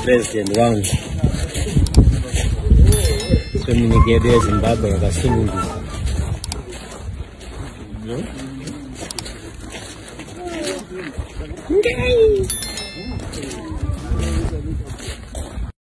president wangu kwemunyika yedu yezimbabwe yakasununguka Yay!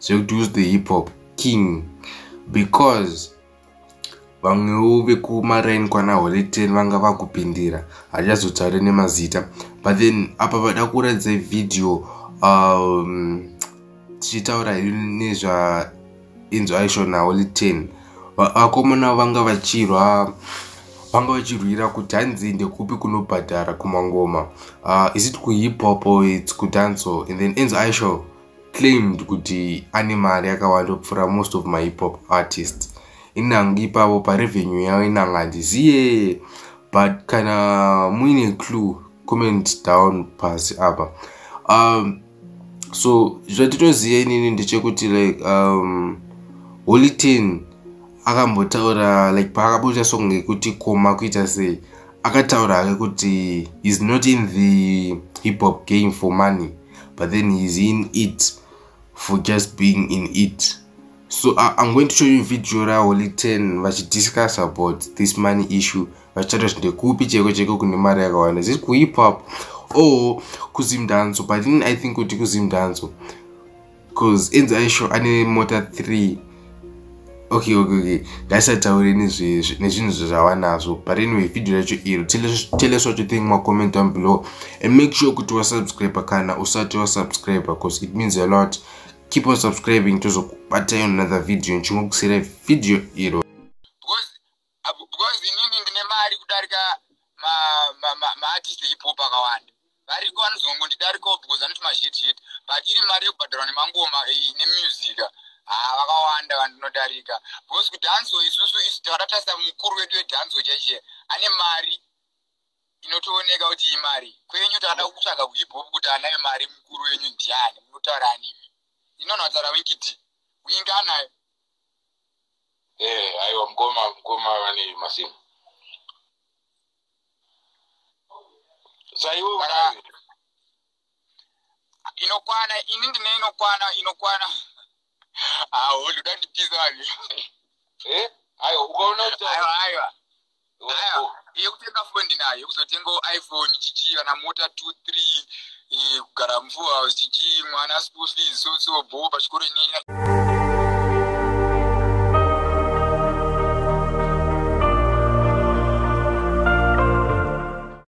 zvekuti who's the hip hop king because vamwewo vekumaraini kwana holy ten vanga vakupindira hatichazotaure nemazita but then apa vada kuratidza vhidhiyo um, tichitaura hedu nezvainzwa aisho naholy ten vakomana vanga vachirwa vanga vachirwira kuti hanzi ndekupi kunobhadhara kumangoma uh, is it kuhip hop or its kudanso and then enzo aisho claimed kuti ane mari yakawanda kupfuura most of my hip hop artists inangi ipavo parevenue yavo inangi handiziye but kana muine clue comment down pasi apa um, so zvatitoziva inini ndechekuti like um, holy ten akambotaura like paakabuda song yekuti koma kuita sei akataura hake kuti is not in the hip hop game for money but then he's in it for just being in it so uh, i'm going to show you video raholy 10 vachidiscuss about this money issue vachitaura kuti ndekupi cheko cheko kune mari yakawanda ziri kuhip hop or kuzimdanzo but in i think kuti kuzimdanzo cause enzi aisho ane mota 3 okay okay okay ngaisataure nezvinhu zvava nazvo but anyway video racho iro tell us what you think macomment down below and make sure kuti wasubscribe kana usati wasubscribe because it means a lot keep on subscribing tozokubatayo another video nchingokusira video iro because inini ndine mari kudarika maartist ma, ma, epop akawanda variko vanozongondidarikawo because anoti mazhetshet but iri mari yekubhadharwa nemangoma eh, nemusica haa ah, vakawanda vandinodarika because kudanzo isusu isu takatarisa mukuru wedu wedanzo chaichee ane mari inotooneka kuti imari kwenyu takada kutsvaga kuhiphop kuti anayo mari mukuru wenyu ndiani munotaura animi inonotaura winkidi wingi anayo eh aiwa mukoma mukoma vane masimu saiwo inokwana ini ndine inokwana inokwana aho ah, ndoda ndipisa vanhu eh aiwa ukaona aiwa aiwa yekutenga foni ndinayo yekuzotenga iphone chichi kana mota two three eh, kugara mvua chichi mwana school fees so so bho pachikoro inyaya